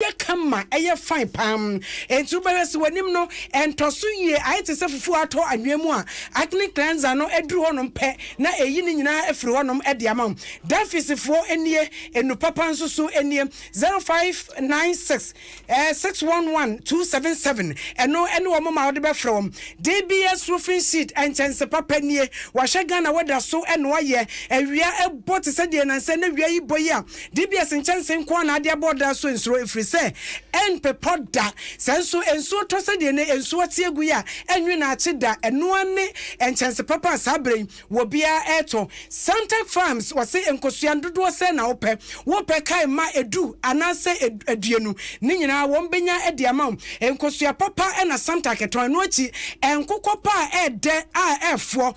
yɛ kama, ɛyɛ fine paa. Enti wobɛhwɛ sɛ w'anim no ɛntɔ so yie, ayɛ te sɛ fufuo a atɔ anwea mu a, acne cleanser no duru hɔnom pɛ na ɛyi ne nyinaa firi hɔnom de ama wo. Dunfis foɔ nie, nnuru papa nso so nie, 0596 611 277, ɛno ne wɔn ma wode bɛfrɛ wɔn. DBS Roofing Sheet nkyɛnse papa nie, wɔahyɛ Ghana weather so na wɔayɛ, awia bɔ te sɛ deɛ nnansa na awia yi bɔ yi a, DBS nkyɛnse nko ara na ade abɔ ɔdan so nsuo ɛfiri sɛ ɛmpepɔ da. Sɛ nso nsuo tɔ sɛdeɛ nnɛ nsuo teɛ gu yi a, ɛnwe na akye da. Ɛno ara ne nkyɛnse papa a saa berɛ yi wɔ biara retɔ. Santac Farms wɔse nkosua dodoɔ sɛn na wopɛ? Wopɛ kae ma ɛdu anaasɛ aduonu ne nyinaa wɔbɛnya de ama wo. Nkosua papa na Santac tɔn. Ɛno akyi, nkokɔ pa a ɛɛdɛ a ɛɛfoɔ.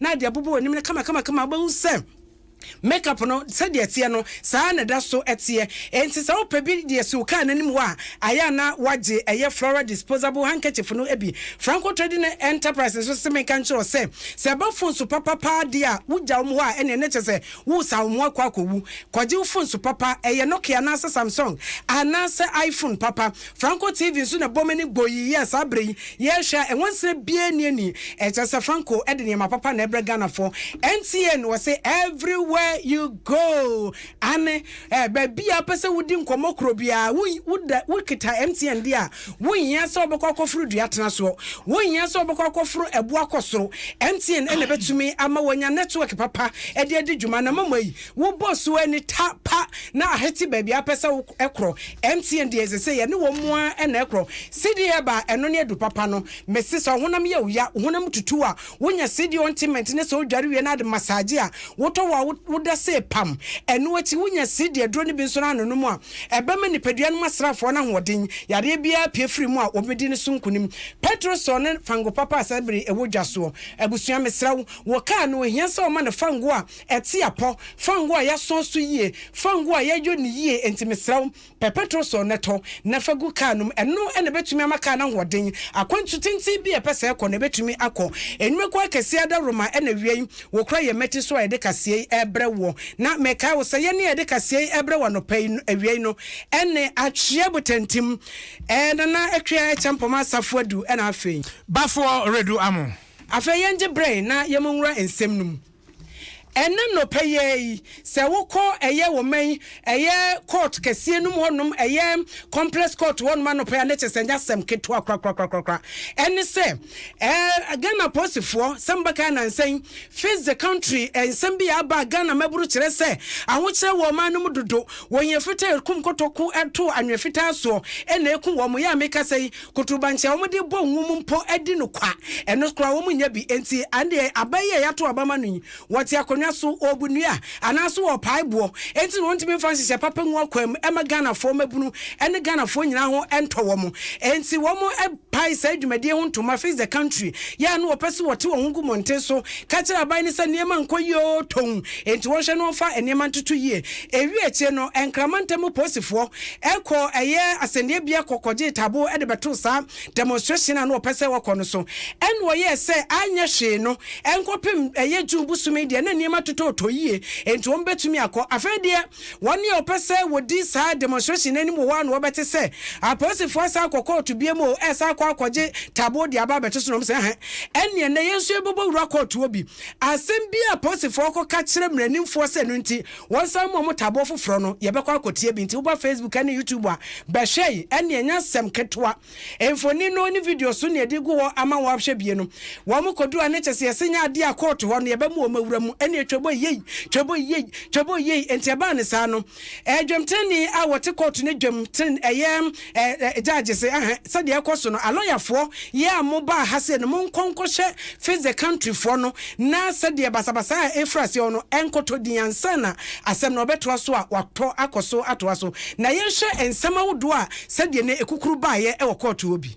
na de abobɔ w'anim no kamakamakama a wobɛhu sɛ makeup no sɛdeɛ ɛteɛ no saa ara na ɛda so teɛ. Enti sɛ wopɛ bi de asi wo kaa no anim hɔ a, ayɛ a na woagye ɛyɛ Flora Disposable Handkerchief no bi. Franco Trading Enterprise nso se menka nkyerɛ wo sɛ, sɛ ɛba phone so papa pa ara deɛ a, wogya wɔn hɔ a ɛnneɛ na kyerɛ sɛ woresan wɔn akɔ akɔwu. Kɔgye wo phone so papa, ɛyɛ Nokia anaasɛ Samsung anaasɛ iPhone papa. Franco TV nso na ɛbɔ m'ani bɔ yi yɛɛ saa berɛ yi yɛrehwɛ a nwansena biara nni ani ɛkyerɛ sɛ Franco de nneɛma papa na ɛbrɛ Ghanafoɔ NTN wɔse everywhere you go ane eh baabi a wopɛ sɛ wodi nkɔmmɔ korɔ biara wo woda wokita MTN deɛ a wonhia sɛ wobɛkɔ akɔforo dua tena soɔ wonhia sɛ wobɛkɔ akɔforo ɛboɔ akɔ soro MTN ɛna ɛbɛtumi ama wanya network papa ɛde adi dwuma na mama yi Wo bɔ so ani ta pa na ahete baabi a wopɛ sɛ wo korɔ. MTN deɛ ɛsɛ sɛ yɛ ne wɔn ara na ɛkorɔ. Cedi herb a ɛno ne adu papa no. Me se sɛ ɔhonam yɛ wo ya, wo honam tutu a, wo nya cedi ointment ne sɛ wo dware wie no ade massage a, wo tɔ wo a wo da se pam. Ɛno akyi wo nya cedi aduro no bi nso na ano nom a, ɛbɛ ma nipadua no mu asrafoɔ no ahoɔden. Yareɛ biara pue firi mu a, wɔn bɛ di no so nkunim. Petrosol ne fango papa a saa bere yi ɛwɔ dwa soɔ. Abusua me srɛ wo, wo car no ohia sɛ wɔma no fango a, Ɛte apɔ, fa ngo a yɛasɔn so yie, fa ngo a yɛayɔ no yie, enti mesrɛ wo, pɛ pɛtro sɔn na tɔ, na fa gu kaa no mu. Ɛno na ɛbɛtumi ama kaa no ahoɔden. Akwantu tenten bi a ɛpɛ sɛ ɛkɔ no, ɛbɛtumi akɔ. Nnwumakuo akɛseɛ adaworoma na ɛwia yi, wɔkura yɛn mmati so a yɛde kaseɛ yi rebrɛ woɔ. Na mekae wo sɛ, yɛn a yɛde kaseɛ yi rebrɛ wo anɔpa yi no, awia yi no, ɛne. Atwea Botantim, ɛɛ Nana Atwea Acheampong Asafo Adu, ɛna afei. Bafoɔ Redu Amoh. Afei yɛngye berɛ na yɛmmɔ nwura nsɛm no mu. Ɛnnɛ nnɔpa yi ara yi, sɛ wokɔ ɛyɛ wɔ man ɛyɛ court kɛseɛ nom hɔ nom, ɛyɛ complex court hɔ nom anɔpa yi a, na kyɛ sɛ ɛnyɛ asɛm ketewa korakorakorakora. Ɛne sɛ, ɛɛ Ghana Apolisifoɔ sɛ mobɛkae nansa yi, Face the Country nsɛm bi a aba a Ghana mmabunu kyerɛ sɛ ahokyerɛ wɔ ɔman no mu dodo, wɔn yɛ fitaa ɛkum kotoko to anwea fitaa soɔ na ɛku wɔn. Yɛ a mekasa yi, Kotobankye a wɔde bɔ ngo mu mpo di no kwa. Ɛno koraa wɔnnya bi. Enti ɛnde aba yi a yɛato aba ma no yi, wɔte akonnwa so, wɔbu nnua, anaasɛ wɔpae boɔ. Enti na wɔntumi mfa nhyehyɛe papa ngu akwaa mu mma Ghanafoɔ mmabunu ne Ghanafoɔ nyinaa ho ntɔ wɔn. Enti wɔpae saa dwumadie ho ntoma, Face the Country, yɛ a na wɔpɛ sɛ wɔte wɔn ho gu mmɔnten so ka kyerɛ aban no sɛ nneɛma nkɔ yie oo, tɔnn, enti wɔnhwɛ na wɔmfa nneɛma ntoto yie. Ewiee akyire no, Nkrama ntam polisifoɔ kɔɔ ɛyɛ asɛnniabea kɔ kɔgyee Tabo de bɛtoo saa demonstration a na wɔpɛ sɛ wɔkɔ no so. Ɛnna wɔyɛɛ sɛ anyɛ hwee no nkɔpem ɛyɛ June bosome deɛ na nneɛma totootɔ yie enti wɔbɛtumi akɔ. Afei deɛ wɔn a wɔpɛ sɛ wɔdi saa demonstration no anim wɔ hɔ ara na wɔbɛte sɛ apolisifoɔ asan akɔ kɔɔto biom o, ɛresan akɔ akɔgye Tabo de aba abɛto so na wɔn sɛ ɛhe ɛnneɛ nnɛ yɛn nso yɛbɛbɔ wura kɔɔtoɔ bi. Asɛm bi a apolisifoɔ kɔka kyerɛ mmaranimfoɔ sɛ ɛno nti Wɔn san mu ɔmo taboɔ foforɔ no yɛbɛkɔ akɔtie bi nti woba Facebook ɛne YouTube a bɛhwɛ yi ɛne ɛnyɛ asɛm ketewa mfoni no ne video so ne ɛde gu hɔ ama wo ahwɛ bie no wɔn kɔdu a ne kyɛsɛ yɛse nyɛ adeɛ a court hɔ no yɛbɛma wɔn awura mu ɛneɛ twɛbɔ yei twɛbɔ yei twɛbɔ yei nti ɛbaa ne saa no ɛɛ dwam tenenee a wɔte court no dwam tene ɛyɛ Eh, judge se ahɛ, sɛdeɛ ɛkɔ so no, alɔyafoɔ, yɛ a mobaa ha sei no, monkɔ nkɔhyɛ face the country foɔ no, na sɛdeɛ basabasa a ɛrefiri aseɛ hɔ no, ɛnkɔtɔ din ansa na asɛm no ɔbɛtoa so a watɔ akɔ so atoa so. Na yɛnhwɛ nsɛm ahodoɔ a sɛdeɛ na ɛkukuru baeɛ wɔ kɔɔto hɔ bi.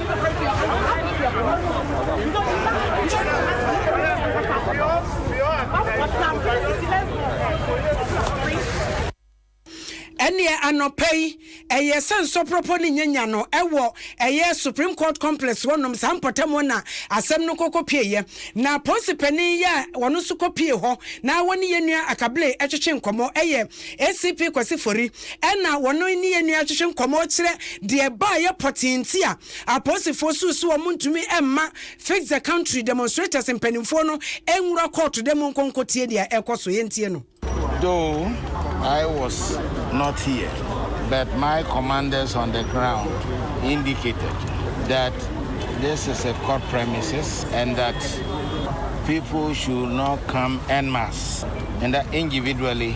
Ɛnneɛ anɔpa yi, ɛyɛɛ sɛ nsɔprɔprɔ ne nyanya no wɔ ɛyɛ Supreme Court Complex hɔnom, saa mpɔtam hɔ na asɛm no kɔkɔ pieeɛ. Na Polisi panin yi a ɔno nso kɔ pie hɔ na ɔne yɛn nua Akabile twetwe nkɔmmɔ yɛ ACP Kwasi Fori. Ɛnna wɔne yɛn nua twetwe nkɔmmɔ kyerɛ deɛ ɛbaeɛ pɔtee nti a apolisifo suu sɛ wɔntumi mma Fix the Country demonstrators mpanimfoɔ no nwura kɔɔto dɛ monkɔ nkɔtie deɛ ɛrekɔ so. Yɛntie no. Though I was not here, but my commanders on the ground indicated that this is a court premises and that people should not come en masse and that individually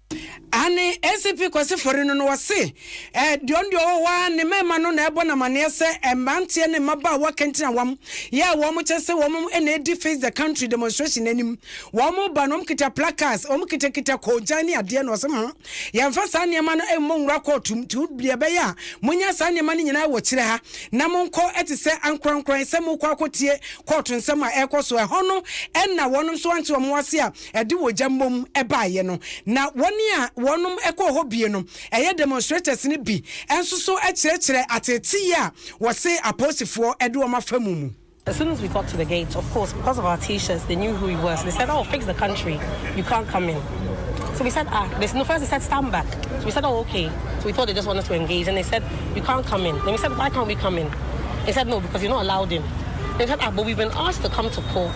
Aane ACP Kwasi Forino no ɔse deɔn deɛ ɔwɔ hɔ ara ne marima no na ɛbɔ no amaneɛ sɛ mmeranteɛ ne mmabaawa kantinawam yɛ a wɔn kyɛ sɛ wɔn na ɛdi Face the Country demonstration no anim wɔn ba no wɔn kita placards wɔn kita kita kɔɔgyan ne adeɛ na ɔse hmm yɛmfa saa nneɛma no mmɔ nwura kɔɔtum ti deɛ ɛbɛyɛ a monya saa nneɛma no nyinaa wɔ kyerɛ ha na monkɔ ɛte sɛ ankorankoran sɛ mokɔ akɔtie kɔɔto nsɛm a ɛkɔ so ɛhɔ no ɛna wɔnom so ante wɔn ase a ɛde wɔgya mmom baeɛ no, na wɔn a wɔnom kɔɔ hɔ bie no ɛyɛ demonstrators no bi nso so kyerɛkyerɛ ateeteyɛ a wɔse apolisifoɔ de wɔn afa mu mu. As soon as we got to the gate, of course because of our t-shirts they knew who we were so they said oh fix the country you can't come in so we said ah they no first they said stand back so we said oh okay so we thought they just wanted to engage and they said you can't come in then we said why can't we come in they said no because you're not allowed in they said ah but we've been asked to come to court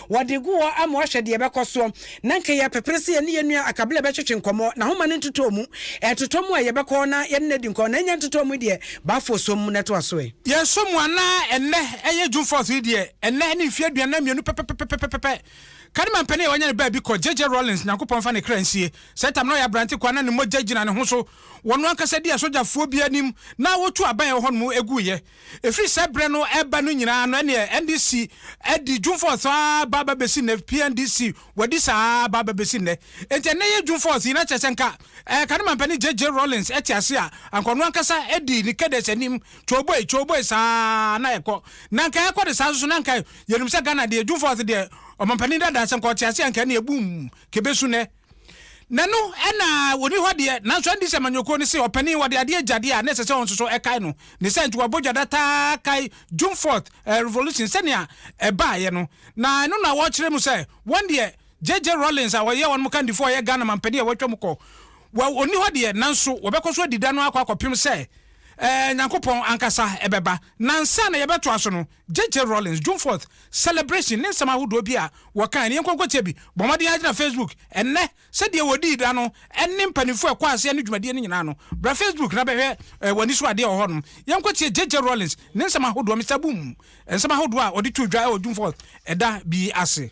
Wɔde gu hɔ ama wɔahwɛ deɛ ɛbɛkɔ soɔ. Na nka yɛrepepere sɛ yɛne yɛn nua Akabila bɛtwetwe nkɔmmɔ, n'ahoma no ntotɔɔ mu. Ɛtotɔ mu a, yɛbɛkɔ na yɛne no adi nkɔmmɔ, na ɛnyɛ ntotɔɔ mu deɛ, Bafo sɔ mu na ɛtoa so ɛ. Yɛsɔ mu a, na ɛnnɛ ɛyɛ June fourth no deɛ, ɛnnɛ ne mfeɛ aduanan mmienu pɛpɛpɛpɛpɛpɛ. Kadima mpanin a wɔanya no baabi kɔ, JJ Rawlings, Nyankopɔn mfa ne kra nsie. Saa tam no na ɔyɛ aberante ko a na ne mogya gyina ne ho so. Wɔno ankasa di asogyafoɔ bi anim na wɔtu aban a ɛwɔ hɔnom guiɛ. Ɛfiri sɛ berɛ no reba no nyinaa no ɛneɛ NDC adi June-fourth aa ba ba bɛsi nnɛ, PNDC wadi saa aa ba ba bɛsi nnɛ. Enti ɛnnɛ yɛ June-fourth yi na kyerɛ sɛ nka ɛɛ kane mampanin JJ Rawlings te ase a anka ɔno ankasa di ne cadets anim kyooboi kyooboi saa aa na ɛkɔ. Na nka ɛkɔ de saa nso so na nka yɛnim sɛ Ghana deɛ June-fourth deɛ ɔmampanin dadaa sɛ nka ɔte ase a nka ɛneɛ boom kɛbɛsu nnɛ. Na ɛno na ɔni hɔ deɛ, nanso ɛnde sɛ Manyɔkuo no se ɔpanin wɔde adeɛ gya deɛ a, na ɛsɛ sɛ ɔnsoso ɛkae no ne sɛ nti wɔabɔ gya da taa kae June fourth revolution sɛnea ɛbaeɛ no. Na ɛno na wɔkyerɛ mu sɛ wɔn deɛ JJ Rawlings a ɔyɛ wɔn kandifoɔ a ɔyɛ Ghana manpanin a wɔatwa mu kɔ, well ɔnni hɔ deɛ nanso wɔbɛkɔ so adi da no ara kɔ akɔpem sɛ Nyankopɔn ankasa bɛba. Na ansa na yɛbɛtoa so no, JJ Rawlings June Fourth Celebration ne nsɛm ahodoɔ bi a wɔkae no yɛnkɔ nkɔtie bi. Bɔ mmɔden ara gyina Facebook ɛnnɛ sɛdeɛ wɔdii da no ɛne mpanimfoɔ a ɛkɔɔ aseɛ ne dwumadie no nyinaa no. Bra Facebook na bɛhwɛ w'ani so adeɛ wɔ hɔnom. Yɛnkɔtie JJ Rawlings ne nsɛm ahodoɔ, Mister Boom nsɛm ahodoɔ a ɔde too dwa wɔ June Fourth ɛda bi ase.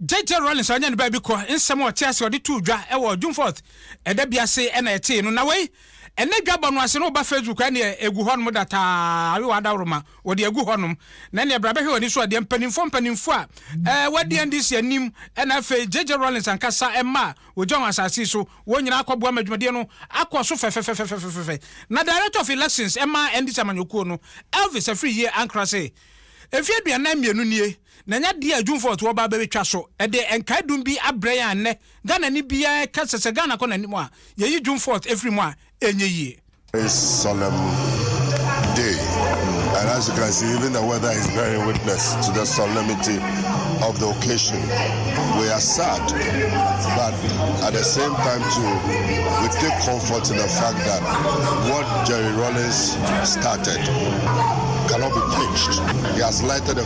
JJ Rawlings a ɔnyɛ ne baabi kɔ nsɛm a ɔte ase ɔde too dwa wɔ June fourth ɛda bi ase na ɛtee no. Na wei, ɛnnɛ dwabɔ no ase no woba Facebook a ɛneɛ ɛgu hɔnom dataa, awe w'adaworoma, wɔde agu hɔnom. Na ɛneɛ bra bɛhwɛ w'ani so adeɛ, mpanimfoɔ mpanimfoɔ a ɛɛ wɔadi NDC anim ɛna afei JJ Rawlings ankasa mma a wɔgya wɔn asase yi so, wɔn nyinaa akɔboa ma dwumadie no akɔ so fɛfɛfɛfɛfɛfɛfɛ. Na Director of Elections ɛma NDC amanyɔkuo no, Elvis Afriyie Ankrah se, Mfeɛ aduanan mmienu nie, na ɛnyɛ adeɛ a adwumfoɔ toɔ baa bɛbɛtwa so de nkae dum bi abrɛ yɛn a nnɛ Ghanani biara ɛka sɛ sɛ Ghana kɔ n'anim a yɛyi dwumfoɔ ɛfiri mu a ɛnyɛ yie. This solemn day and as you can see even the weather is bearing witness to the solemnity of the occasion we are sad but at the same time too we take comfort in the fact that what Jerry Rawlings started cannot be quenched he has lighted a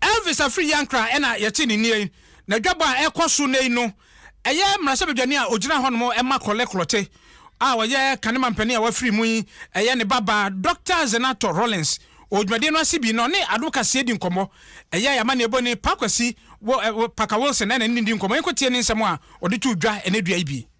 Elvis Afriyie Ankrah na yɛte ne nnie yi. N'adwabɔ a ɛrekɔ so nnɛ yi no, ɛyɛ mmarahyɛbadwani a ɔgyina hɔnom ma Korle Klotse a ɔyɛ kane mampanin a wafiri mu yi, ɛyɛ ne babaa Dɔkta Zenator Rawlings. Wɔ dwumadie no ase bi no, ɔne advocacy di nkɔmmɔ. Ɛyɛ yɛn amanneɛbɔni Pa Kwasi Parker Wilson na ɛne no di nkɔmmɔ. Yɛnkɔtie ne nsɛm a ɔde too dwa ɛnnɛ dua yi bi.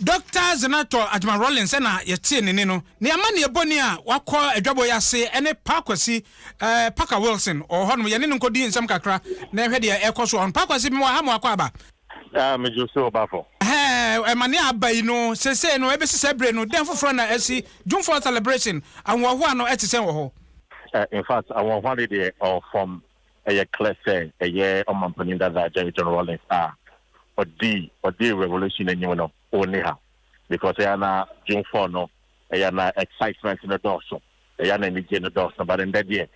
Dɔkta Zenator Adjemah-Rawlings na yɛtee ne nne no. Ne amanneɛ bɔne a wakɔ adwabɔ yi ase ne Pa Kwasi, eh, Packer Wilson, ɔwɔ hɔnom. Yɛne no nkɔdi nsɛm kakra na yɛnhwɛ deɛ ɛrekɔ so wɔ hɔ no. Pa Kwasi, mewɔ ha ma wakɔ aba. Ah, megye wo sɛ ɔbafo. Ɛhɛɛ, amanneɛ a aba yi no, seesei no, ɛbɛsi saa bere no, dɛn foforɔ na asi? June fourth celebration, ahohoahoa no ɛte sɛn wɔ hɔ? Eh, in fact, ahohoahoa no deɛ ɔwɔ fam. ɛyɛ klɛ sɛ ɛyɛ Ɔmanpanin Dada Agyae John Rawlings a ɔdii ɔdee revolution no anim no ɔnni ha because ɛyɛ a na June four no ɛyɛ a na excitement no dɔɔso, ɛyɛ a na anigyeɛ no dɔɔso but ndɛ deɛ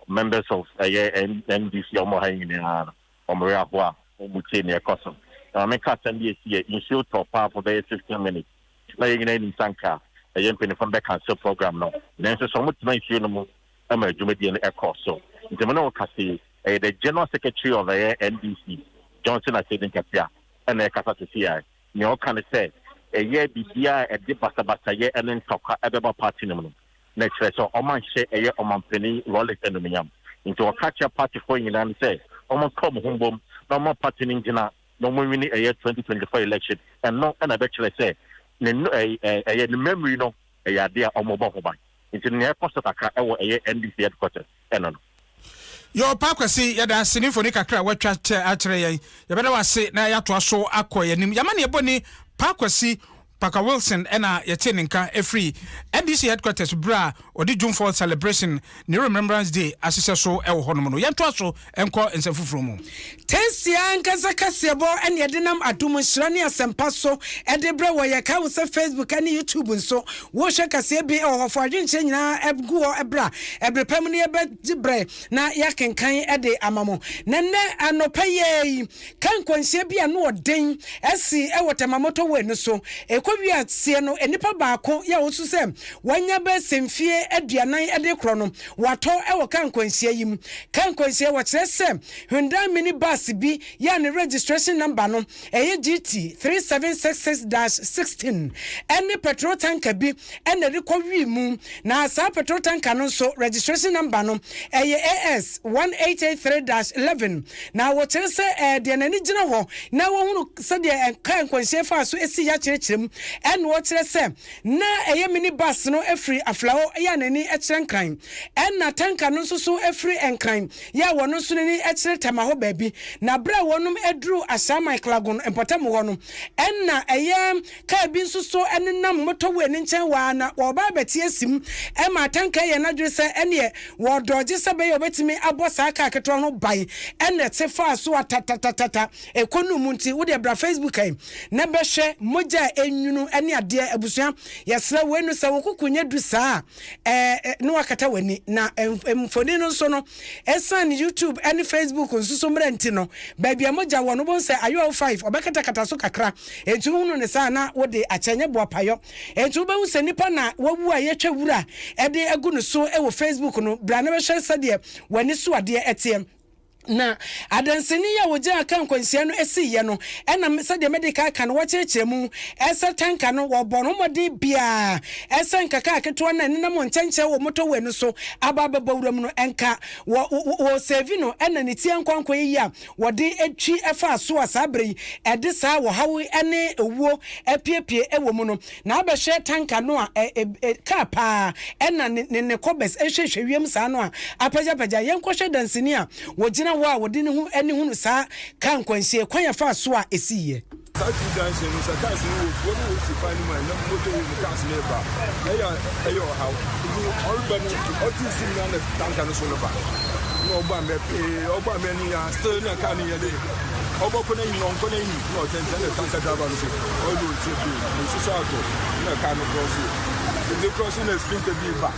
members of ɛyɛ NDC a wɔwɔ ha yi nyinaa no wɔn werɛ ahoɔ a wɔmmu tie nea ɛkɔ so. Na ma me nka asɛm bi a ɛsiiɛ, nsuo tɔ paa for bɛyɛ fifteen minutes na yɛn nyinaa nim sɛ anka ɛyɛ mpaninfoɔ no bɛcancel program no nanso sɛ wɔtena nsuo no mu ama dwumadie no ɛkɔɔ so. Nti me ne wo kasa yi, ɛyɛ the General Secretary of ɛyɛ NDC, Johnson Asiedu Nkɛtea ɛna ɛrekasa sesei a, nea ɔka ne sɛ, ɛyɛ biribiara a ɛde basabasayɛ ɛne ntɔkwa ɛbɛba party no mu no, na ɛkyerɛ sɛ wɔanhyɛ ɛyɛ Ɔmanpanin Rawlings animuonyam. Nti ɔka kyerɛ partyfoɔ nyinaa no sɛ, wɔnka wɔn ho mbom na wɔmma party no ngyina na wɔnwini ɛyɛ 2024 election. Ɛno ɛna ɛbɛkyerɛ sɛ ne ɛyɛ ne mmamiri no ɛyɛ ade a wɔbɔ ho ban. Nti no, nea ɛkɔ so kakra wɔ ɛyɛ NDC headquarters ɛno no. Yoo Pa Kwasi, yɛda ase ne mfoni kakra a woatwa kyɛ akyerɛ yɛn. Yɛbɛda wo ase na yɛatoa so akɔ yɛn anim. Yɛn amanneɛbɔ ni, Pa Kwasi Parker Wilson na yɛtee ne nka firi NDC headquarters berɛ a ɔde June fourth celebration, Nehru Remembrance Day, ahyehyɛ so wɔ hɔnom no. Yɛntoa so. nkɔ nsɛm foforɔ mu. Tɛnsi ankasa kaseɛbɔ ne yɛde nam adom nhyira ne asɛmpa so de brɛ wɔ yɛkae wo sɛ Facebook ne YouTube nso wohwɛ kaseɛ bi wɔ hɔ fa wadwenkyerɛ nyinaa gu hɔ bra ɛberɛ pa mu no yɛbɛgye berɛ na yɛakenkan de ama mo na nnɛ anɔpa yɛi Ka nkwanhyia bi a ano wɔ den sii wɔ Tema Motorway no so. Ɛkɔwiee aseɛ no, nnipa baako yɛ ɔwosu sɛ wanya bɛ sɛ mfeɛ aduanan de rekorɔ no, watɔ wɔ kaa nkwanhyia yi mu. Kaa nkwanhyia, Wɔkyerɛ sɛ Hyundai Mini Bus bi yɛ a ne registration number no yɛ GT three seven six six dash sixteen ne petrol tanker bi na ɛrekɔ wim mu, na saa petrol tanker no nso registration number no ɛyɛ AS one eight eight three dash eleven, na wɔkyerɛ sɛ ɛɛ deɛ n'ani gyina hɔ na wɔhunu sɛdeɛ car nkwanhyia faa so sii yɛ akyerɛkyerɛ mu, ɛna wɔkyerɛ sɛ na ɛyɛ mini bus no firi Aflao yɛ a n'ani kyerɛ Nkran, ɛna tanker no nso so firi Nkran yɛ a wɔn nso n'ani kyerɛ Tema hɔ baabi, na berɛ a wɔn aduru Ashaiman Klagon mpɔtam hɔ no, ɛna ɛyɛ Kaa bi nso so nenam motorway no nkyɛn hɔ ara na wɔreba abɛte asim ma atanka yɛɛ n'adwene sɛ ɛneɛ wɔredɔɔgye sɛ ɛbɛyɛ a ɔbɛtumi abɔ saa kaa ketewa ho ban ɛna ɛte faa so atatatatata. Ɛkɔnuu mu nti wodeɛ bra Facebook ha yi na bɛhwɛ mogya a ɛnwunu ne adeɛ. Abusua yɛsrɛ wei no sɛ wo koko nyɛ du saa a na woakata w'ani na mfoni no nso no Esiane YouTube ne Facebook nso so mmara nti no, baabi a mogya wɔ no, wobɛhu sɛ ayɔw five, ɔbɛkatakata so kakra. Enti wohunu no saa a, na wode akyɛ, ɛnyɛ boapayɔ. Enti wobɛhu sɛ nipa na wawu a yɛatwa wura de agu no so wɔ Facebook no. Bra na bɛhwɛ sɛdeɛ w'ani so adeɛ teɛ. Na adanseni yi a ɔgyina kaa nkwanhyia no siiɛ no, ɛnam sɛdeɛ mede kan aka no, wɔkyerɛkyerɛ mu sɛ tanka no, wɔbɔɔ no ho mmɔden biara Ɛsɛ nkaka aketewa no a ɛnenam wɔ nkyɛnkyɛn wɔ motorway no so aba abɛbɔ wuram no nka. Wɔ wɔresɛɛvi no na ne ti ankoankoa yiye a wɔde twi faa so a saa bere yi ɛde saa ɔhaw ne owuo apiepie wɔ mu no. Na abɛhwɛ tanka no a car paa na ne ne kɔbɛs hwehwɛ wiem saa no a apagyapagya. Yɛnkɔhwɛ danseni a ɔgyina hɔ a ɔde ne ho ani hunu saa car nkwanhyie kwan a ɛfaa so a ɛsiiɛ. Saa Twi danhyɛ no, sɛ cars no wɔ kurow no wɔ si kwan no mu a, ɛnam motorway mu cars no reba a, ɛyɛ a ɛyɛ ɔhaw. Nti ɔreba no, ɔte nsu mu na na tanker no so no ba. Na ɔbɔ amena pee, ɔbɔ amena no nyinaa, still na car no yɛ dɛ. Ɔbɔ kɔ n'anim, ɔnkɔ n'anim, na ɔtɛntɛn na tanker driver no so, ɔyɛ dɛ ɔntie bio. Nsu so atɔ, na car no cross o. Nti cross na sprinter bi reba.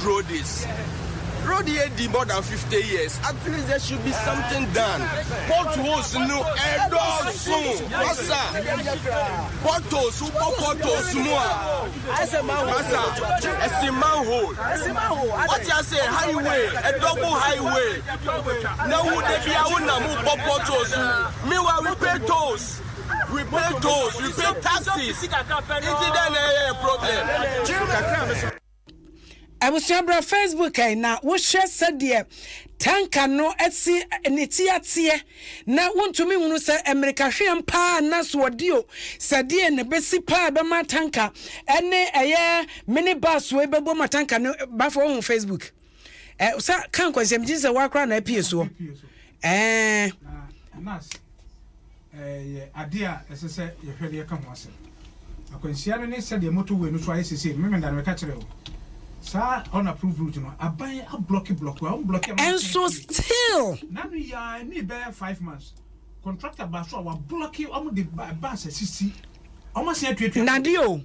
Rhodes Rhodes adi more than fifty years at least there should be something done potholes no ɛdɔɔso masa potholes wobɔ potholes mu a masa ɛsi manhole wɔte ase highway ɛdɔbo highway na wo da bi a wonam wobɔ potholes meanwhile we pay tolls we pay tolls we pay taxes nti dɛ na ɛyɛ problem Abusua bra Facebook ɛ na wo hwɛ sɛdeɛ tanka no si ne ti ateɛ na wo ntumi nhunu sɛ mmirika hweam paa na so ɔdi o sɛdeɛ ne bɛsi paa bɛma tanka ɛne ɛyɛ mini bus wei bɛbɔ ma tanka no bafo ohun Facebook. Eh, sa ka nkwansɛm gye sɛ woakora na apue soɔ. Eh. Nas, ɛyɛ adeɛ a ɛsɛ sɛ yɛhwɛ deɛ ɛka ho asɛm. Akwanhyia no ne sɛdeɛ motorway no so ayɛ sesei no, memenda no meka kyerɛ wo. Saa unapproved route no, aban ablɔke blɔke, wɔn blɔke ama Ɛnso still. Na no yɛ a ɛnii bɛyɛ five months. Contractor baa so a wablɔke wɔn de bus asisi. Wɔn asan atuatua. Nade o.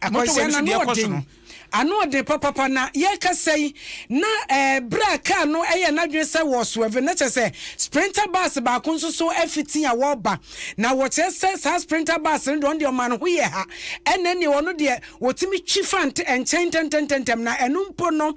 Akwanhyia no ano yɛ den, ano yɛ den papapa. Na yɛrekasa yi, na eh, bere a kaa no yɛ n'adwene sɛ wɔ swerve, na kyerɛ sɛ sprinter bus baako nso so afi tea a wɔreba, na wɔkyerɛ sɛ saa sprinter bus no deɛ ɔno deɛ ɔma ne ho yɛ ha, ɛna ɛneɛ ɔno deɛ wɔtumi twi fa nkyɛn ntɛntɛntɛntɛm, na ɛno mpo no.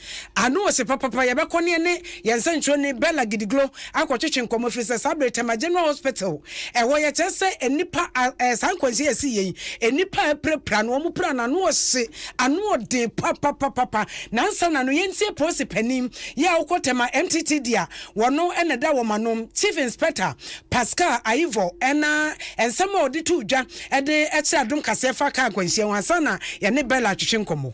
Ano ɔse papapa yɛbɛkɔ ne ɛne yɛn nsɛnkyerɛwni Bella Gidiglo akɔtwetwe nkɔmmɔ ɛfiri sɛ saa bere Tema General Hospital ɛwɔ yɛ kyerɛ sɛ nnipa a saa nkwanhyia a ɛsii yɛ yi nnipa a ɛpirapira no wɔn pira no ano ɔhye ano ɔden papapapapa nansa na no yɛntie polisi panin yɛ a ɔkɔ Tema MTT deɛ a wɔno ɛna ɛda wɔn ano Chief Inspector Pascal Ayivɔ ɛna nsɛm a ɔde too dwa ɛde ɛkyerɛ adom kaseɛ fa kaa nkwanhyia ho ansa na yɛne Bella atwetwe nkɔmmɔ.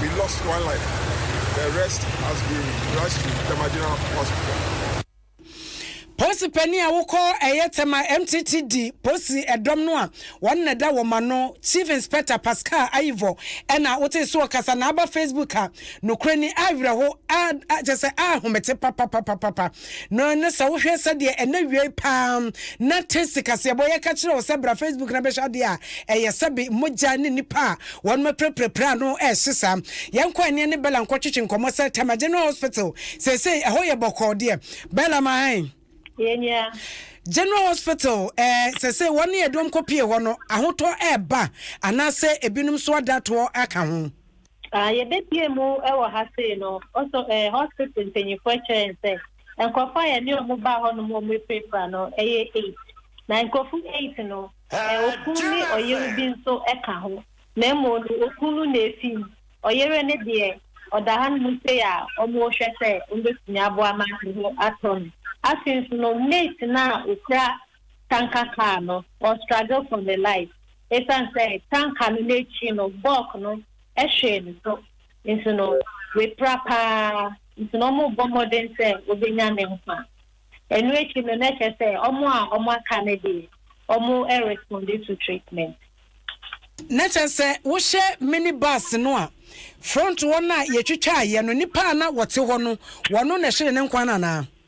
We lost one life, the rest has been rushed to Tema General Hospital. Posi panin a wokɔ ɛyɛ Tema MTT di posi ɛdɔm no a wɔn na ɛda wɔn ano Chief Inspector Pascal Ayivɔ ɛna wote so ɔkasa na aba Facebook a nokorɛ ni awerɛho a kyɛ sɛ a homete papapapapa. No ne sɛ wohwɛ sɛdeɛ ɛnɛ wiei paa na te sikasɛbɔ yɛka kyerɛ wo sɛ bra facebook na bɛhwɛ adeɛ a ɛyɛ sɛbe mogya ne nipa a wɔn mɛpirapirapira ano ɛhye saa yɛnkɔ ɛneɛ ne bɛla nkɔtwetwe nkɔmmɔ sɛ tama general hospital seesei ɛhɔ yɛ bɔkɔɔ deɛ bɛla ma hɛn yɛnyia general hospital ɛɛ eh, sɛsɛ wɔn ne ɛdɔm kɔ pie hɔ no ahotɔ ɛɛba anaasɛ ebinom so adatoɔ aka ho. Ah, yɛbɛbue mu wɔ ha sei no, also eh, hospital mpanyinfoɔ kyerɛɛ yɛn sɛ, nkorɔfoɔ a yɛne wɔn baa hɔ nom wɔn apirapira no, ɛyɛ eight. Na nkorɔfoɔ eight no, eh, okunu ne ɔyere bi nso ka ho, na mmom no, okunu na efi mu. Ɔyere no deɛ, ɔda hanom sei a wɔrehwɛ sɛ wɔbɛtumi aboa ma ne ho atɔ no. Afei nso no, mate no a okura tanka car no or struggle for ne life esiane sɛ tanka no n'akyi no bulk no hwee ne so nti no wapira paa nti no wɔrebɔ mmɔden sɛ wɔbɛnya ne nkwa. Ɛno akyi no na ɛkyerɛ sɛ wɔn a wɔaka no deɛ wɔresponde to treatment. Na kyerɛ sɛ wohyɛ mini bus no a front hɔ no a yɛtwitwaeɛ no nnipa a na wɔte hɔ no wɔn na ɛhyee ne nkwa no anaa?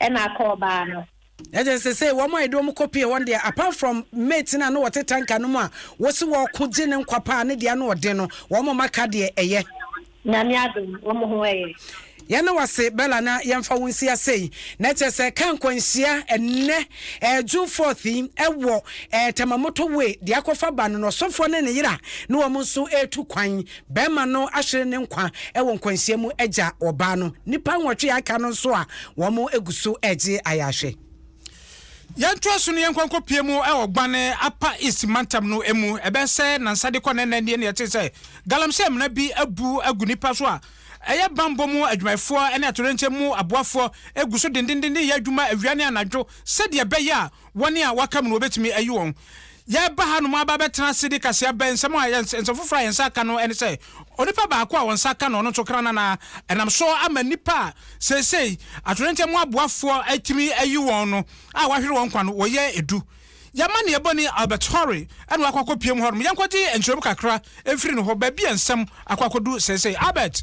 ɛna akɔ ɔbaa no. Ɛde sesei wɔn a ɛde wɔn kɔ pie hɔ deɛ apart from mate no a na wɔte tanka no mu a wɔsi wɔko gye ne nkwa paa ne deɛ ano ɔden no wɔn a wɔaka deɛ ɛyɛ. Nyame adom wɔn ho ɛyɛ. Yɛne wase Bella na yɛmfa wo nsi ase yi na ɛkyɛ sɛ ka nkwanhyia ɛnɛ ɛɛ June 4th yi ɛwɔ ɛɛ Tamamoto way deɛ akɔfa ba no na ɔsɔfoɔ ne ne yera ne wɔn nso ɛɛtu kwan Barima no ahwere ne nkwa wɔ nkwanhyia mu agya ɔbaa no. Nnipa nwɔtwe a aka no nso a wɔgu so regye ayarehwɛ. Yɛntoa so na yɛnkɔ nkɔpue mu wɔ Gwane, Upper East mantam no mu. Ɛbɛyɛ sɛ nnansa de kɔ nnɛ nnɛ nie na yɛtee sɛ galamsey amena bi abu agu nnipa so a ɛyɛ bammɔ mu adwumayɛfoɔ ne atoyerɛnkyɛm mu aboafoɔ gu so dendendendenn reyɛ adwuma awia ne anadwo sɛdeɛ ɛbɛyɛ a Wɔn a wɔaka mu no, wɔbɛtumi ayi wɔn. Yɛreba hanom aba abɛtena ase de kaseɛ aba nsɛm a yɛn, nsɛm foforɔ a yɛn nsa aka no ne sɛ, onipa baako a wɔn nsa aka no, ɔno nso kranana, ɛnam so ama nnipa a seesei atoyerɛnkyɛm ho aboafoɔ atumi ayi wɔn no a wɔahwere wɔn nkwa no, wɔyɛ du. Yɛn amanneɛ bɔni Albert Horry na wakɔ akɔpue mu hɔnom. Yɛnkɔgye nkyerɛmu kakra mfiri ne hɔ, baabi a nsɛm akɔ akɔdu seesei. Albert!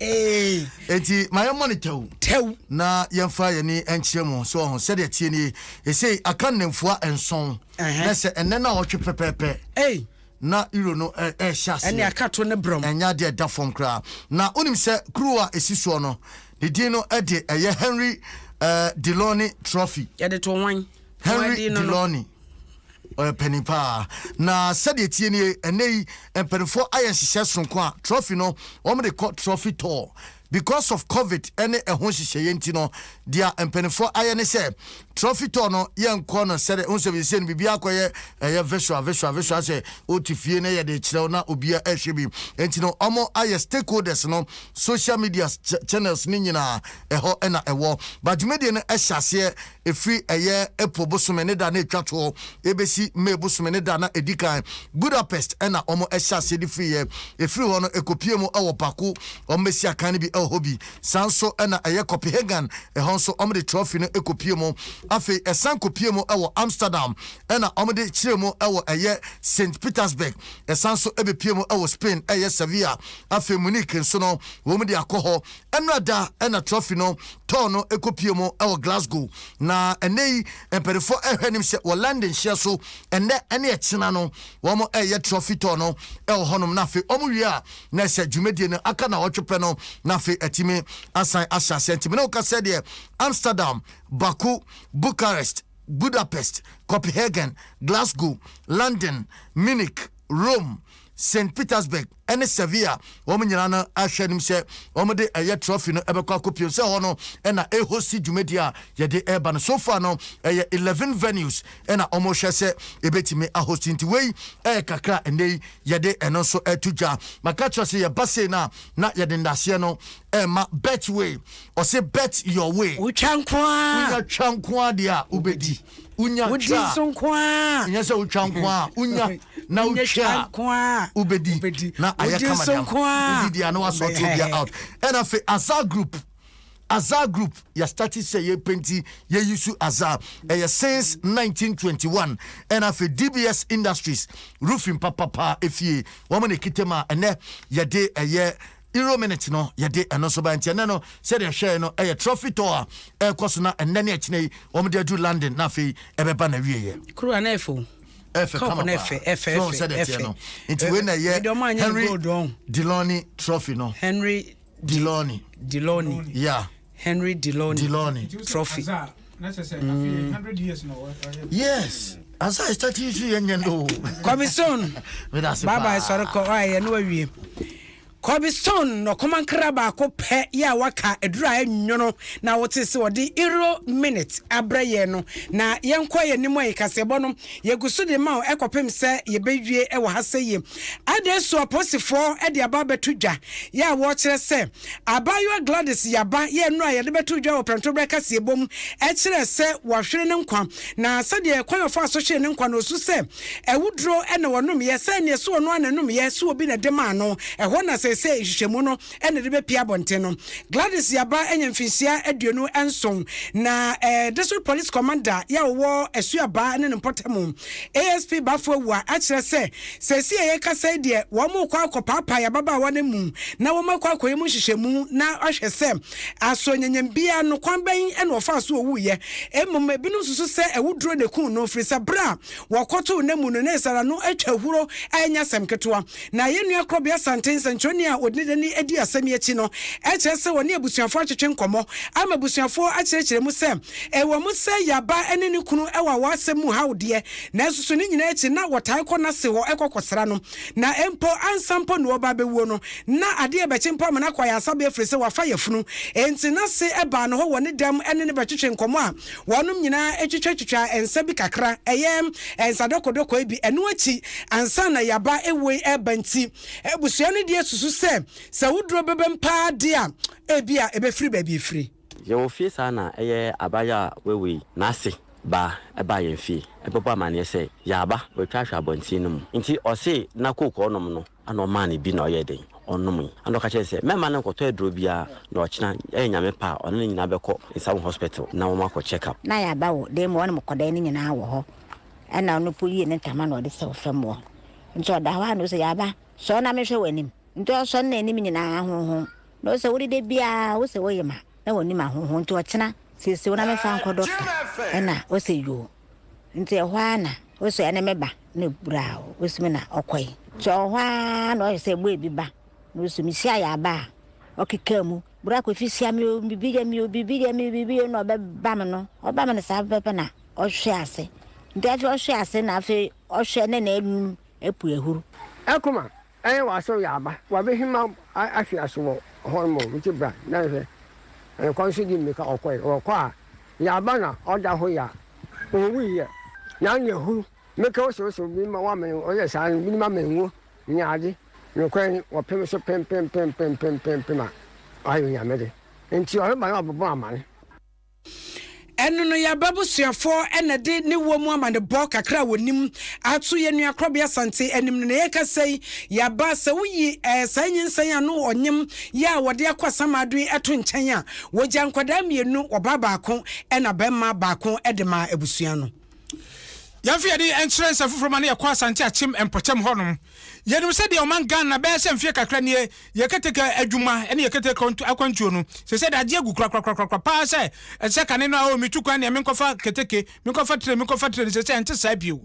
enti ma yɛmmɔ no tɛw tɛw na yɛmfa yɛne nkyerɛ mu so ɔho sɛdeɛ tie nie ɛsei aka nnamfua nson na sɛ ɛnɛ no a wɔtwe pɛpɛpɛ na euro no ɛhyɛ aseɛ ɛne aka to ne brɛm ɛnyɛ adeɛ ɛda fam koraa na wonim sɛ kuro a ɛsi soɔ no ne din no ɛde ɛyɛ Henry uh, Deloney Trophy yɛde to wan Henry Deloney, ɔyɛ panin paa. Na sɛdeɛ tie nie, ɛnɛ yi mpanimfoɔ ayɛ nhyehyɛ soronko a trophy no wɔde kɔ trophy tour because of covid ne ɛho nhyehyɛeɛ nti no deɛ mpanimfoɔ ayɛ ne sɛ trophy tour no yɛnkɔ no sɛdeɛ ho sɛ bisɛ no biribiara kɔyɛ ɛyɛ visual visual visual sɛ wote fie na yɛde kyerɛw na obiara ɛhwɛ bi nti no wɔn ayɛ stakeholders no social media channels ne nyinaa ɛhɔ na ɛwɔ badwumadie no ɛhyɛ aseɛ Ɛfiri ɛyɛ April bosome ne da na ɛtwa toɔ ɛbɛsi May bosome ne da na ɛdi kan. Budapest na wɔn ɛhyɛ aseɛ de firi yɛ. Ɛfiri hɔ no ɛkɔpie mu wɔ Baku, wɔn bɛsi akan no bi wɔ hɔ bi. Saa nso na ɛyɛ Copenhagen, ɛhɔ nso wɔn de trɔfi no kɔpie mu. Afei ɛsan kɔpie mu wɔ Amsterdam, ɛna wɔn de kyerɛ mu wɔ ɛyɛ Saint Petersburg. Ɛsan nso ɛbɛpie mu wɔ Spain ɛyɛ Sevilla. Afei Munich nso no wɔn de akɔ hɔ Ɛnnora da na trɔfi no tɔɔ no kɔpue mu wɔ Glasgow, na ɛnnɛ yi mpaninfoɔ rehwɛ anim sɛ wɔ London hyeɛ so ɛnnɛ ne ɛkyena no wɔn reyɛ trɔfi tɔɔ no wɔ hɔ nom na afei wɔn wie a na ɛsɛ dwumadie no aka nawɔtwe pɛ no na afei atumi asan ahyɛ aseɛ nti me ne wo ka sɛ deɛ Amsterdam, Baku, Bucharest, Budapest, Copenhagen, Glasgow, London, Munich, Rome, St. Petersburg, ne Sevilla, wɔn nyinaa no ahwɛ anim sɛ wɔde ɛyɛ trophy no bɛkɔ akɔpue sɛ hɔ no na ɛhosti dwumadi a yɛde reba no. So far no, ɛyɛ eleven venues na wɔhwɛ sɛ ɛbɛtumi ahosti, nti wei yɛ kakra a nnɛ yi yɛde ɛno nso reto dwa. Maka kyerɛ wo sɛ yɛba sei no a, na yɛde ndaseɛ no rema Betway, ɔse bet your way. Wotwa nko ara. Wonya twa nko ara deɛ a, wobɛdi. wonya wodi twa nso nko a nyɛ sɛ wotwa nko a wonya na wonyɛ wotwa twa a nko a wobɛdi wobɛdi na ayɛ wodi kama nso deɛ nko a wodi deɛ a na wasɔ to obiara out ɛna afei aza group aza group yɛstarte sɛ yɛpenti yɛyi su aza ɛyɛ since 1921 ɛna afei dbs industries roofing papapaa efie wɔn na ɛkita mu a ɛnɛ yɛde ɛyɛ Euro minute no yɛde ɛno nso ba nti ɛnɛ no sɛdeɛ ɛhwɛɛ no ɛyɛ trophy tour a ɛrekɔ so na ɛnɛ ne ɛkyena yi wɔn de adu London na afei ɛbɛba na wie yɛ. Kura na ɛfɛ o. Ɛfɛ kama paa ɛfɛ ɛfɛ ɛfɛ sɛdeɛ ɛfɛ no nti wei na ɛyɛ Henry Deloney trophy no. Henry Deloney. Deloney. Yeah. Henry Delorney, Delorney. trophy. Mm. Yes. As I start you see and no. Kobe Stone. Bye bye sorry ko ah ya no awie. Kobe Stone no koma nkra baako pɛ ya waka adura enyono na wote se ɔde euro minute abrɛ yɛ no na yɛnkɔ yɛ nim ayi kasebɔ no yeguso de ma ekopem sɛ yebewie ɛwɔ ha sɛ ye. Ade so aposifoɔ de aba beto dwa ya wɔkyerɛ sɛ Abaayewa Gladys Yaba yɛɛ nnuro a yɛde bɛto dwa wɔ Prɛntoberɛ Kaseɛbɔ mu kyerɛɛ sɛ wahwere ne nkwa, na sɛdeɛ kwan a ɔfaa so hweree ne nkwa no, ɔsu sɛ awuduro na ɔnomeeɛ, sɛ ɛnneɛ so ɔno ara na ɛnomeeɛ, so obi na ɛde maa no. Ɛhɔ na seesei nhwehwɛmu no na ɛde bɛpue abɔnten no. Gladys Yaba anya mfinhyia aduonu nson, na District Police Commander yɛ ɔwɔ Asuabaa ne ne mpɔtamu, ASP Bafo Awuah, akyerɛ sɛ, Seesei a yɛrekasa yi deɛ, wɔrekɔ akɔpaapae yɛn ababaawa no amu na wɔakɔ akɔyɛ mu nhyehyɛmu na ahwɛ sɛ aso nyanyam biara no, kwan bɛn na ɔfaa so owuiɛ. Mmom ebinom susu sɛ awuduro na ɛkuu no, firi sɛ berɛ a wɔkɔtoo n'amu no, na ɛsɛ ara no atwa ahuro a ɛnyɛ asɛm ketewa. Na yɛn nua Korɔbea Santee, nsɛnkyerɛwni a ɔde ne dani adi asɛm yi akyi no, kyerɛ sɛ ɔne abusuafoɔ atwetwe nkɔmmɔ ama abusuafoɔ akyerɛkyerɛ mu sɛ ɛwɔ mu sɛ Yaba ne ne kunu wɔ awɔ asɛm mu haw deɛ, Nanso so ne nyinaa akyi na wɔtae kɔ n'ase hɔ kɔ kɔsra no, na mpo ansa mpo na ɔreba abɛwuo no, na ade rebɛkye mpo ama no akɔ ayaresabea ɛfiri sɛ wafa yafunu. Enti n'ase baa ne hɔ wɔ ne dɛm ne no bɛtwetwee nkɔmmɔ a wɔnom nyinaa twitwatwitwaa nsa bi kakra, ɛyɛ nsa dɔkɔdɔkɔe bi, ɛno akyi ansa na yaba woi reba nti abusua no deɛ susu sɛ sɛ wo duro bɛbam paa deɛ a ebia ɛbɛfiri baabi ɛfiri. Yɛwɔ fie saa na ɛyɛ abaayewa a wawu yi n'ase ba baa yɛn fie bɛbɔ amanneɛ sɛ yaaba watwa ahwɛ abɔnten no mu nti ɔse na coke a ɔnom no na ɔmaa no bi na ɔyɛɛ dɛn ɔnomee na ɔka kyerɛɛ no sɛ mɛmma no nkɔtɔ aduro biara na ɔkyena ɛyɛ nyame pɛ a ɔne no nyinaa bɛkɔ Nsawam hospital na wɔn akɔ check up. Na yaaba wɔ dan mu ɔne mo kɔdae no nyinaa wɔ hɔ ɛna ɔno mpo yii ne ntama na ɔde sɛw fam wɔ nti ɔda hɔ a na ɔse yaaba sɔre na menhwɛ w'anim nti ɔsɔre na anim nyinaa honhom Na ɔsɛ wode da biara wosɛ woyem a na wɔnim ahoho nti ɔkyena sese wo na mefa nkɔ dɔkta ɛna ɔsɛ yoo nti ɛhɔ ara na ɔsɛ ɛne meba na ɛburaa wo ɔsumi na ɔkɔe nti ɔwɔ hɔ ara na ɔyɛ sɛ ɛbɔ ebi ba na ɔsɛ mehyia yɛ aba a ɔkeka mu bura kɔfi hyia me o bibi deɛ me o bibi deɛ me bibi deɛ na ɔbɛba me no ɔba me no saa pɛpɛ na ɔhwe ase nti afei ɔhwe ase na afei ɔhwe ne na anum apu ahuru. Ɛkoma Ɛyɛ w'asɔr yɛ aba, w'abehimba ahwe ase wɔ hɔ no mbom nkyɛ bra na hwɛ, hɛn kwan so dzi mbirika ɔkɔe, ɔkɔ a, yɛ aba na ɔda hɔ yɛ a, onnwui yɛ, naaso yɛ hur, mbirika osowsow, binom ma wɔamen, ɔyɛ saa no, binom amen ngo, nyiadze, nokwar nye, wɔpem so pempempempempempempem a, ɔayɛ Onyame dze, ntsi ɔreba no ɔbɔbɔ aman. Ɛno no, yɛn abusuafoɔ na ɛde ne wɔ mu amanebɔ kakra a wɔnim ato yɛn nua Korɔbea Sante anim no. Na yɛrekasa yi, yɛaba sɛ woyi eh, saa nyinsɛn a ano ɔnyem yɛ a wɔde akɔ asamado yi to nkyɛn a, wɔgya nkwadaa mmienu, ɔbaa baako na bɛmma baako de maa abusua no. Yɛmfa yɛn ani nkyerɛ nsɛm foforɔ ma no yɛkɔ Asante Akyem mpɔtam hɔnom. Yɛnim sɛ deɛ ɔman Ghana bɛyɛ sɛ mfeɛ kakra nie, yɛ keteke adwuma ne yɛ keteke akwantuo no, sɛsɛ de agye agu korakorakorakora paa sɛ ɛte sɛ kane no a, oh, metu kwan neɛ menkɔfa keteke, menkɔfa tire, menkɔfa tire no, sɛsɛ ɛnte saa bio.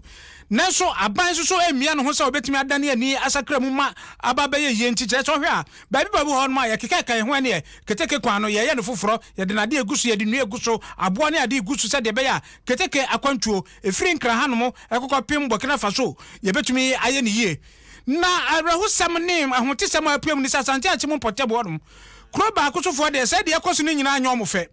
Nanso aban nso so mmia ne ho sɛ ɔbɛtumi adane ani asakra mu ma aba abɛyɛ yie nti, kyerɛ sɛ wohwɛ a, baabi baabi wɔ hɔnom a yɛkekaeka yɛn ho ɛneɛ keteke kwan no, yɛyɛ no foforɔ, yɛde nnadeɛ gu so, yɛde nnua gu so, aboɔ ne adeɛ gu so sɛdeɛ ɛbɛyɛ a Keteke akwantuo ɛfiri Nkran hanom kɔkɔpem Burkina Faso yɛbɛtumi ayɛ no yie. Na awerɛhosɛm ne ahotesɛm a apuem ne sɛ Asante Akyem Mpɔtam hɔnom kuro baako sofoɔ deɛ sɛ deɛ ɛkɔ so no nyinaa nyɛ wɔn fɛ.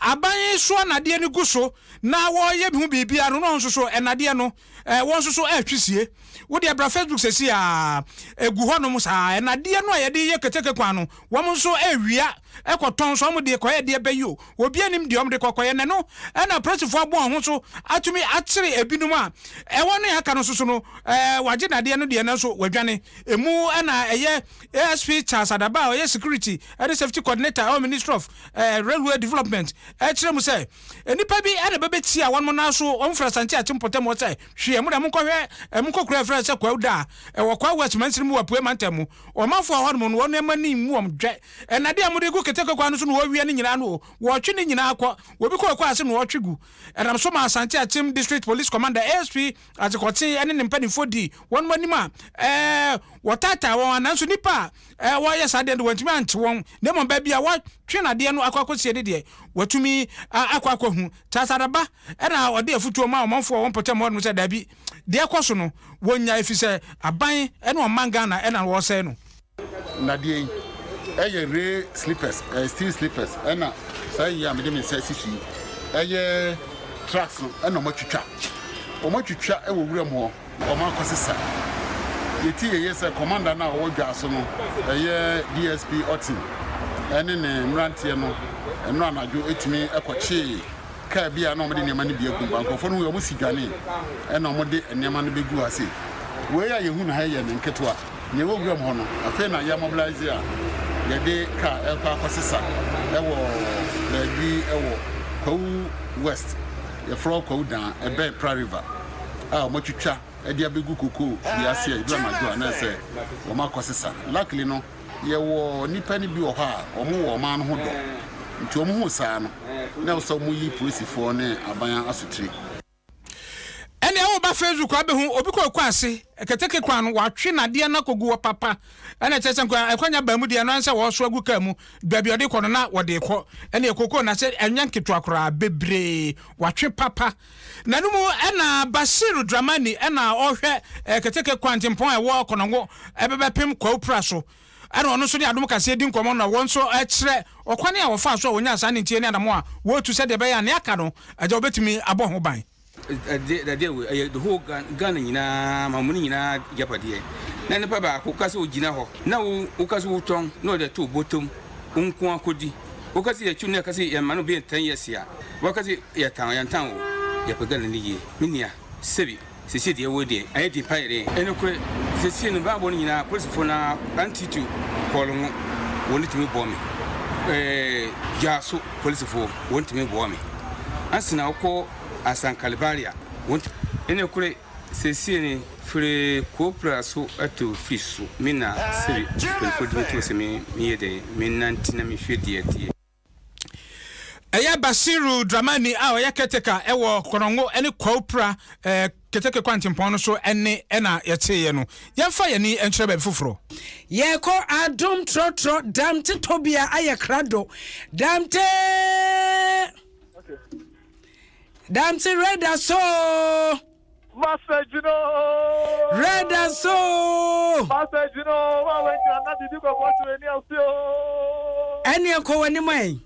Aban soɔ nnadeɛ no gu so na wɔreyɛ ho biribiara no na wɔn nso so nnadeɛ no wɔn nso so retwisie. Wo deɛ bra Facebook seesei ara ɛgu hɔnom saa. Nnadeɛ no a yɛde yɛ keteke kwan no wɔn nso rewia. kɔ tɔn so, ɔmo deɛ kɔ yɛ deɛ bɛ yi o, obia nim deɛ ɔmo de kɔ kɔ yɛ, na ɛno na apolisifo abɔ wɔn ho so atumi akyere ebinom a ɛwɔ ne aka no nso so no, ɛɛ wagye nadeɛ no deɛ nanso wadwane, emu na ɛyɛ ASP Charles Adaba a ɔyɛ security ne safety coordinator ɛwɔ ministry of ɛɛ railway development ɛkyerɛ mu sɛ nnipa bi na bɛbɛtia wɔnom nan so wɔn firi Asante Akyem Mpɔtam hɔ sɛ hwee ɛmo na ɛmo nkɔhwɛ ɛmo nkɔkura ɛfrɛ sɛ Kwawu Daa ɛwɔ Kwawu West mansini mu wɔ Apuei Mantam mu. Ɔmanfoɔ a wɔwɔ hɔ no, wɔn mma no mmu wɔn dwɛ. Nnadeɛ a wɔde gu keteke kwan no so na wɔwia ne nyinaa no, wɔtwe ne nyinaa kɔ. Obi kɔ kwan ase na ɔtwe gu. Ɛnam so maa Asante Akyem District Police Commander, ASP, Adzekwɔtse ne ne mpanimfoɔ dii wɔn anim a wɔtaataa wɔn, nanso nnipa a wɔreyɛ saa adeɛ no de, wɔantumi ankye wɔn, na mmom baabi a wɔatwe nnadeɛ no akɔ akɔsie no deɛ, wɔatumi akɔ akɔhu. Charles Adaba na ɔde afotuo maa ɔmanfoɔ a wɔwɔ mpɔtam hɔ no sɛ, Dabi! Deɛ ɛkɔ so no, wɔnnya ɛfiri sɛ aban ne ɔman Ghana na wɔresɛe no. Nnadeɛ yi yɛ rail sleepers, ɛyɛ steel sleepers ɛna saa yi a mede me nsa asi so yi ɛyɛ trucks no ɛna wɔn atwitwa, wɔn atwitwa wɔ wuram hɔ na wɔn akɔsesa. Yɛti yɛyɛ sɛ commander no a ɔwɔ dwaa so no ɛyɛ DSP Otim ɛne ne mmeranteɛ no ɛno anadwo ɛtumi ɛkɔkyee. Kaa bi a na wɔde nneɛma no bi agu mu ba. Nkurɔfoɔ no hui a, wɔsi dwanee, ɛnna wɔde nneɛma no bɛguu ase. Wei a yɛhu no ha yi yɛ ne nketewa. Nea ɛwɔ wuram hɔ no, afei na yɛamobilise a yɛde kaa rekɔ akɔsesa wɔ baabi wɔ Kwawu West, yɛfrɛ hɔ Kwawu Dan, ɛbɛn Pra River, a wɔatwitwa de abɛgu kokoo dua ase a ɛduru anadwo a na ɛsɛ sɛ wɔakɔsesa. Luckily no, Yɛwɔ nnipa no bi wɔ hɔ a wɔn wɔ ɔman no ho dɔ, nti wɔn huu saa no na ɛwɔ sɛ wɔyi polisifoɔ ne aban asotire. Ɛndeɛ wo ba facebook a bɛhu obi kɔ ɛkɔ ase keteke kwan no watwe nadeɛ no akɔgu hɔ papa ɛna kyerɛ sɛ nka ɛkwanya baa mu deɛ ɛno ara sɛ wɔso agu kaa mu baabi ɔde kɔ no na wɔde kɔ ɛneɛ kookoo na sɛ ɛnyɛ nketewa koraa bebree watwe papa N'anom na Bashir Dramani na ɔrehwɛ keteke kwantempɔn a ɛwɔ Konongo bɛbɛpem Kwaupra so na ɔno nso ne Adom Kaseɛ di nkɔmmɔ na wɔn nso kyerɛ ɔkwan a wɔfaa so a wɔnyaa saa ninteɛ ne anammɔn a wɔretu sɛdeɛ ɛbɛyɛ a nea aka no agya wɔbɛtumi abɔ ho ban. Dadeɛ wei ɛyɛ the whole Ghana, Ghana nyinaa ma wɔn nyinaa agyapadeɛ. Na nipa baako ka sɛ ogyina hɔ na wo woka sɛ wotɔn na ɔde ato wo bɔtɔ mu wo nko ara kɔdi. Woka se yɛkyi wo na yɛka se yɛmma no beyɛ ten years a, woaka se yɛtan wo. Yɛntan wo. Yɛpagya no ne yie. Me nua, sɛbi, sesie deɛ woi deɛ, ayɛ den paa yɛ den. Ɛnokorɛ, sesie no mebaa bɔ no nyinaa, apolisifoɔ no ara, Auntie to kɔɔlo no, wɔn ntumi boa me. Ɛɛ, Dwaso polisifoɔ, wɔn ntumi boa me. Ansana wokɔ Asankalebaria, wɔn ntumi. Ɛnokorɛ, Sesie ni, firi Kuopra so to Fisu, me na Siri mpanyinfoɔ di me too sɛ me yɛ dɛn, me nante na me hwɛ deɛ ɛteɛ. Ɛyɛ Bashiru Dramani a ɔyɛ caretaker wɔ Kɔnɔngo ne Kuopra keteke kwantempɔn no so ɛne ɛna yɛteeɛ no. Yɛnfa yɛn ani nkyerɛ baabi foforɔ. Yɛkɔ Adom Trɔtrɔ Damte tɔbea ayɛ krado Damte. Dante Reda so. Master Gino. Reda so. Master Gino wa wa nyina na bibi ko ko so ni ase o. Eni enko wani mai.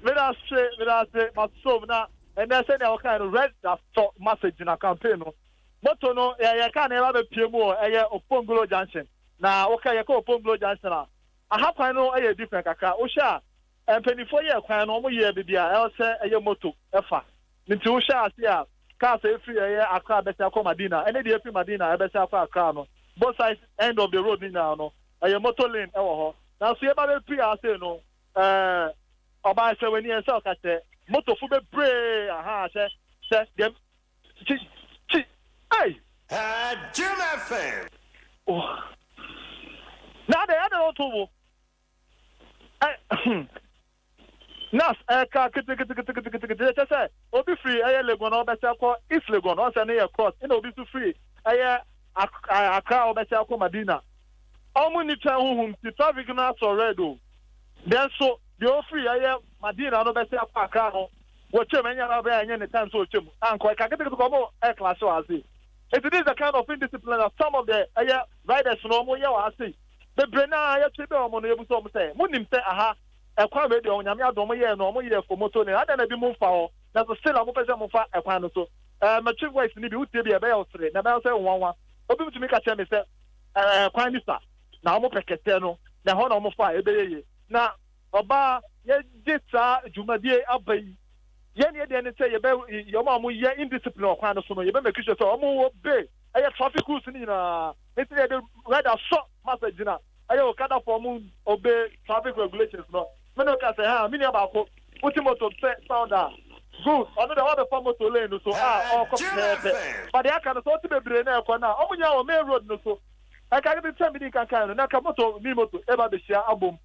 Mira se mira se masom na ene se ne okan no Reda so Master Gino campaign no. Moto no ye ye ka na ba be pie mu o eye Opongolo Junction. Na wo ka ye ka Opongolo Junction a. Aha kwan no ye different kakra. Wo hwe a Mpaninfoɔ yɛɛ kwan no, wɔn yɛɛ baabi a ɛwɔ sɛ ɛyɛ moto fa. Nti wo hwɛ ase a, cars a ɛfiri ɛyɛ Accra bɛsɛ akɔ Madina, ɛne deɛ ɛfiri Madina ɛbɛsɛ akɔ Accra no, both sides end of the road no nyinaa no, ɛyɛ motor lane ɛwɔ hɔ. Nanso yɛba bɛpiri ha sei no, eh, ɔbaa hyɛ w'ani, ɛnsɛ ɔka kyerɛ, motofo bebree, ahaa, hwɛ, hwɛ, deɛ, kyi, kyi, ei! Haa Jim FM. Oh, na adɛn, adɛn na ɔnto wo bo? Ɛ hmm. Nas ɛka kitikitikitikitikiti ɛkyɛ sɛ obi firi ɛyɛ Legon na ɔbɛsɛ akɔ East Legon ɔn sɛ ne yɛ cross ɛna obi nso firi ɛyɛ Accra ɔbɛsɛ akɔ Madina ɔmo nni twɛn ho hum ti traffic no asɔ red o dɛn nso deɛ ofiri ɛyɛ Madina no bɛsɛ akɔ Accra no wɔtwam ɛnyɛ na ɔbɛyɛ ɛnyɛ ne time sɛ ɔtwam ankɔ ɛka kitikitikiti ɔmo ɛyɛ class wɔ ase eti this is the kind of indiscipline that some of the ɛyɛ riders no ɔmo yɛ wɔ ase. bebree no ara yɛtwe bɛn wɔn no, yɛbisa wɔn sɛ, Monim sɛ aha, ɛkwan wei deɛ, Onyame adom, wɔyɛɛ no, wɔyɛɛ fo, moto no, adɛn na bi mo mfa hɔ? Nanso still a, wɔpɛ sɛ mofa ɛkwan no so. Ɛɛ, mɛtwe voice no bi, wotie bi a, ɛbɛyɛ wo sere, na ɛbɛyɛ wo sɛ nwanwa. Obi betumi ka kyerɛ me sɛ, Ɛɛ, kwan no sua, na wɔpɛ kɛtɛ no, na ɛhɔ na wɔfa a, ɛbɛyɛ yie. Na. Ɔbaa, yɛde saa dwumadie yi aba yi, yɛn deɛ deɛ ne sɛ yɛbɛ wɔn a wɔn yɛ indiscipline wɔ kwan no so no, yɛbɛ make sure sɛ wɔn wɔ be ɛyɛ traffic rules ne nyinaa, nti na yɛde red asɔ ma sɛ gyina ɛyɛ okada fɔ wɔn obe traffic regulations no, me ne oka sɛ haa, me nua baako, wo te moto pɛ sound a, good, ɔno deɛ wɔn abɛfa moto lane no so a ɔɔkɔ pɛpɛɛpɛ, but deɛ aka no sɛ wɔte bebree na ɛɛkɔ no a, wɔn nyinaa wɔ main road no so, ɛka kete sɛ me di nkan kan no, na nka moto mini moto ɛɛba abɛhyia abom.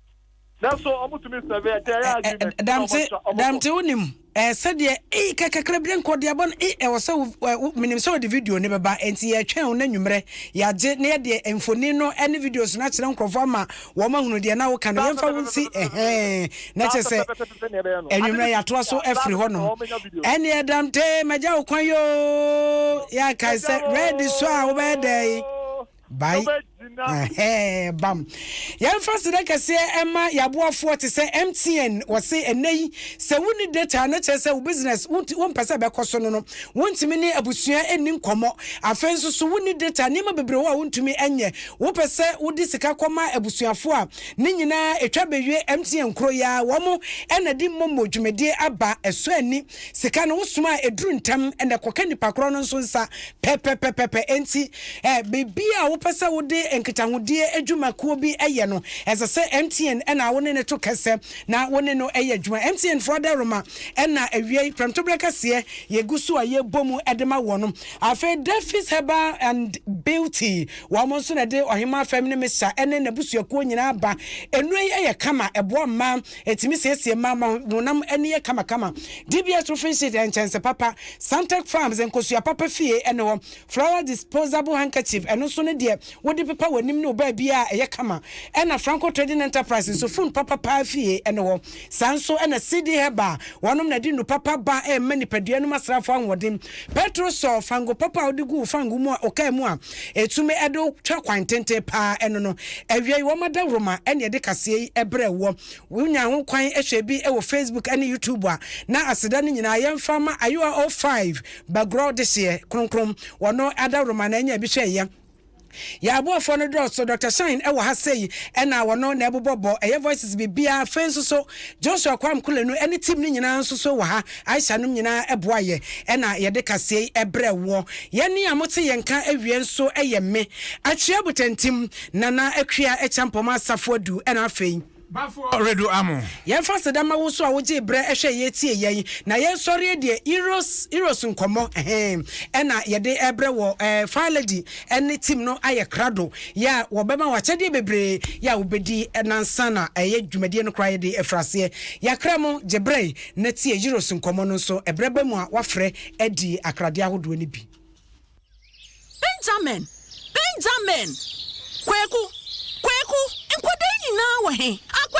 Nanso wɔtumi sɛve ɛtɛ ɛyɛ agreement. Ɛ ɛ Damte Damte wonim ɛ sɛdeɛ ei ka kakra bi nkɔ deɛ bɔ no ei ɛwɔ sɛ wo menim sɛ wɔde video no bɛba enti yɛretwɛn wo no anwummerɛ yɛagye na yɛde mfoni no ne videos no akyerɛ nkurɔfoɔ ama wɔn ahunu deɛ na woka no yɛmfa wo nsi ɛhɛn na kyɛ sɛ anwummerɛ yɛatoa so afiri hɔ nom ɛneɛ Damte magya wo kwan yoo yɛakae sɛ ready so a wobɛyɛ dɛn bae ɛhɛɛ bam yɛmfa serɛ kɛseɛ ɛma yɛaboafoɔ te sɛ mtn wɔse ɛnɛ yi sɛ wonni data na kyerɛ sɛ wo business wompɛ sɛ ɛbɛkɔ so no no wontumi ne abusua ɛnni nkɔmmɔ afei nso so wonni data nneɛma bebree wɔ a wontumi ɛnyɛ wopɛ sɛ wode sika kɔma abusuafoɔ a ne nyinaa ɛtwa bɛwie mtn kuro yi a wɔn ɛna di mmɔmmɔ dwumadie aba ɛsɔ ani sika no wo soma a ɛduru ntɛm na ɛkɔka nipa korɔ no nso nsa pɛpɛpɛpɛpɛ enti eh, biribi a wopɛ sɛ wode nkitahodie adwuma kuo bi yɛ no ɛsɛ sɛ MTN ɛna wo ne no to kɛsɛ na wo ne no yɛ adwuma MTN foɔ adaroma ɛna awiei prɛmtoberɛ kɛseɛ yɛgu so a yɛbɔ mu de ma wɔ no afei Daffy's Herbal and Beauty wɔn nso na ɛde Ɔhemaa Fam ne Mr ɛne n'abusuakuo nyinaa ba nnuro yi yɛ kama ɛboa mmaa Ɛtumi siesie mma ma wɔn honam ani yɛ kamakama. DBS Roofing Sheet yɛ nkyɛnse papa. Santec Farms nkosua papa fie ne hɔ. Flower Disposable Handkerchief, ɛno nso ne deɛ wode pepa w'anim ne wo baabiara a ɛyɛ kama. Ɛna Franco Trading Enterprise nso fun papa paa fie ne hɔ. Saa nso na CD Herbal, wɔnom na ɛde nnuru papa ba ɛrema nipadua nom asrafoɔ ahoɔden. Petrosol, fango papa a wode gu wo fango mu a ɔkaa mu a, ɛtumi de wo twa kwan tenten paa ɛno no. Awiei wɔn adawuroma na ɛde kaseɛ yi brɛ woɔ. Wonya ho kwan hwɛ bi wɔ Facebook ne YouTube a, na aseda no nyinaa yɛmfa ma Ayowa O Five Bagorɔ dehyeɛ kronkron. Wɔn adawuroma na ɛnya bi hwɛeɛ. Yɛn aboafoɔ no dɔɔso, Doctor Shine wɔ ha sei na wɔn na ɛbobɔ bɔ ɛyɛ voices biribiara. Afei nso so Joshua Kwam Kulenu ne team no nyinaa nso so wɔ ha. Aisha nom nyinaa boa yɛ ɛna yɛde kasei brɛ woɔ. Yɛne a mote yɛn nka awie nso yɛ me, Akyia Butantim, Nana Akua Akyampɔm Asafo Adu ɛna afei. Bafo Redu Amo. Yɛmfa aseda ma wo nso a wogyee berɛ hwɛɛ yɛ tiee yɛn na yɛn sɔreɛ deɛ Heroes Heroes nkɔmmɔ ɛhe ɛna yɛde brɛ wɔ ɛɛ Fire Lady ɛne team no ayɛ krado yɛ a wɔbɛma wo akyɛdeɛ bebree yɛ a wobɛdi nansa na ɛyɛ dwumadie no koraa yɛde firi aseɛ. Yɛakra mo gye berɛ. na tie Euros nkɔmmɔ no nso ɛberɛ ba mu a wafrɛ adi akradeɛ ahodoɔ no bi. Benjamin! Benjamin! Kweku! Kweku! Nkwadaa yi nyinaa wɔ he? Akwasi!